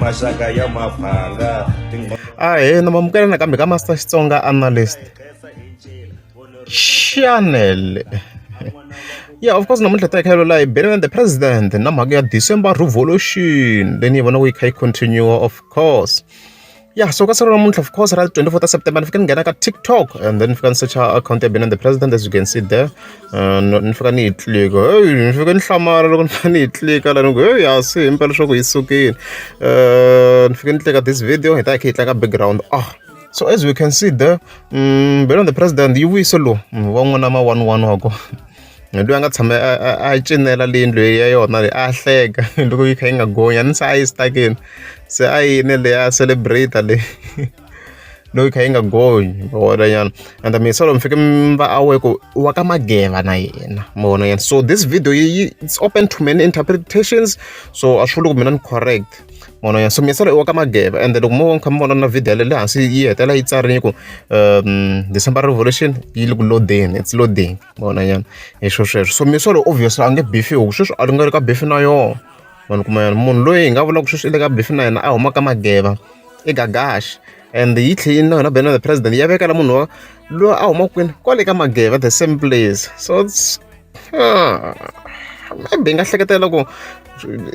maxaka ya maphanga ahena mamukela nakambe ka master xitsonga analyst chanel yeah of course namuntlha ta khayelo layi beneland the president na mhaka ya december revolution leyi ni yi vonaka yi kha yi continue of course ya so ka siku ra namuntlha of course ra 24 ta september ni fike ni nghena ka tiktok and then ni fika ni secha account ya benani the president as you can see there uh, ni fika ni yi tlika heyi ni fike ni hlamala loko ni fika ni yi tlika la ni ku heyi hasi hi mpela leswaku yi sukile uh, ni fike ni tlika this video hi ta hi kha hi tlaka background ah so as we can see there um, mm, benani the president yi vuyise lowu mm, wa n'wana ma one one wa kona loyi a nga tshama a a a cinela le yindlwini ya yona leyi a hleka loko yi kha yi nga gonyi a ni se a yi stuck-ini se a yini leyi a celebrate-a leyi loyi kha yi nga gonyi ma vona nyana and mina solo mi fike mi va aware ku wa ka mageva na yena ma vona nyana so this video yi yi it's open to many interpretations so a swi vuli ku mina ni correct ma vona nyana so mina solo i wa ka mageva and loko mo kha mi vona na video yale le hansi yi hetela yi tsarini ku um december revolution yi le ku lodeni it's lodeni vona nyana hi swo sweswo so mi swo lo obvious a nge beef yo sweswi a ri nga ri ka beef na yoho vanhu kuma yena munhu loyi hi nga vulaka sweswi i le ka beef na yena a huma ka mageva i gagaxi and yi tlhe yi na yona bena the president ya vekela munhu wa loyi a huma kwini kwale ka mageva the same place so ah, maybe hi nga hleketela ku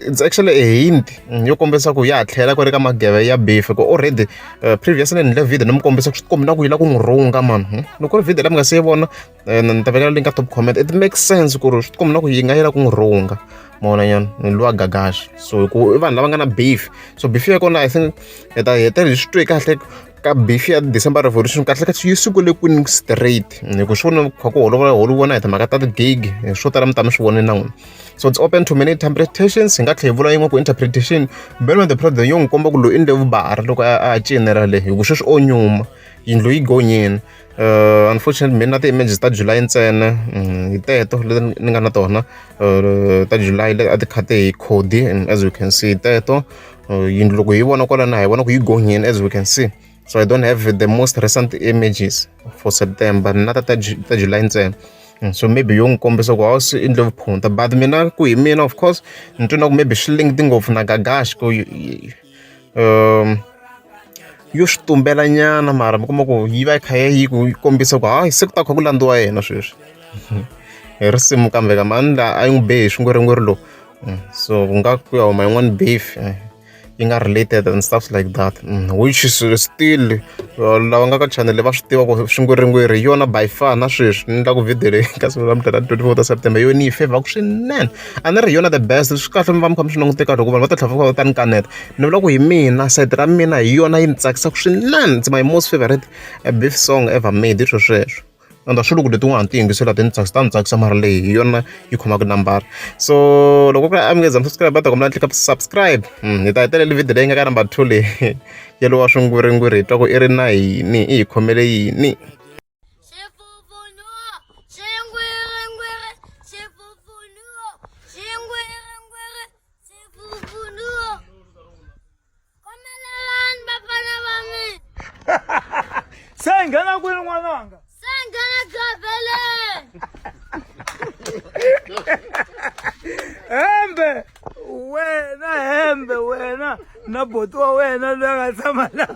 it's actually a hint mm, yo kombisa ku ya ha tlhela ku ri ka mageve ya beef ku already uh, previous ni endle video ni mi kombisa ku swi tikombi na ku yi la ku n'wi rhunga mani hmm? loko ri video la mi nga se yi vona eh, ni ta vekela link ka top comment it makes sense ku ri swi tikombi na ku yi nga yi la ku n'wi rhunga mona nyana ni lwa gagashi so ku i vanhu lava nga na beef so beef ya kona i think hi ta hetela hi swi twe kahle ka beef ya december revolution kahle kahle yi sukule kwini straight hi ku swi vona kha ku holova holova na hi timhaka ta ti-gig swo tala mi ta mi swi vone na n'wina so it's open to many interpretations hi nga tlhe hi vula yin'we ku interpretation belo the problem yo n'wi komba ku loyi i ndle vubara loko a cinera le hi ku sweswi o nyuma yindlu yi gonyini uh, unfortunately mina na ti-images ta july ntsena mm, hi teto leti ni nga na tona uh, ta july leti a ti khate hi cody and as you can see teto uh, yindlu loko hi vona kwalana hi vona ku yi gonyini as we can see so i don't have the most recent images for september na ta ta july ntsena mm, so maybe yo n'wi kombisa ku hawu swi endle vuphunta but mina ku hi mina of course ni twi na ku maybe swi linked ngopfu na gagash ku um yo swi tumbela nyana mara mi kuma ku yi va yi kha yi ku kombisa ku hayi se ku ta kha ku landziwa yena sweswi hi risimu kambe ka mani la a yi n'wi be hi swingweringweri lowu mm, so ku nga ku ya huma yin'wani beef eh. yi nga related and stuff like that mm, which is still uh, lava nga ka channel va swi tiva ku swingwiringwiri hi yona by far na sweswi ni endla ku video leyi ka siku ra mudlala 24 ta september yona yi favor ku swinene a ni ri hi yona the best swi kahle mi va mi kha mi swi langute kahle hikuva vanhu va ta tlhava va ta ni kaneta ni vula ku hi mina side ra mina hi yona yi ni tsakisaka swinene it's my most favorite eh, beef song ever made hi swo sweswo endla swilo ku leti n'wana ti yingisela ti ni tsakisa ta ni tsakisa mara leyi hi yona yi khomaka nambara so loko ku ri a mi nge za mi subscribe va ta kombela ni tlika subscribe hmm, hi ta hetelela video leyi nga ka number two leyi ya lowa swingwiringwiri hi twa ku i ri na yini i hi khomele yini khomelelani vafana va mina se hi nghena kwini n'wananga se hi nghena gavheleni hembe wena hembe wena na boti wa wena loyi a nga tshama laha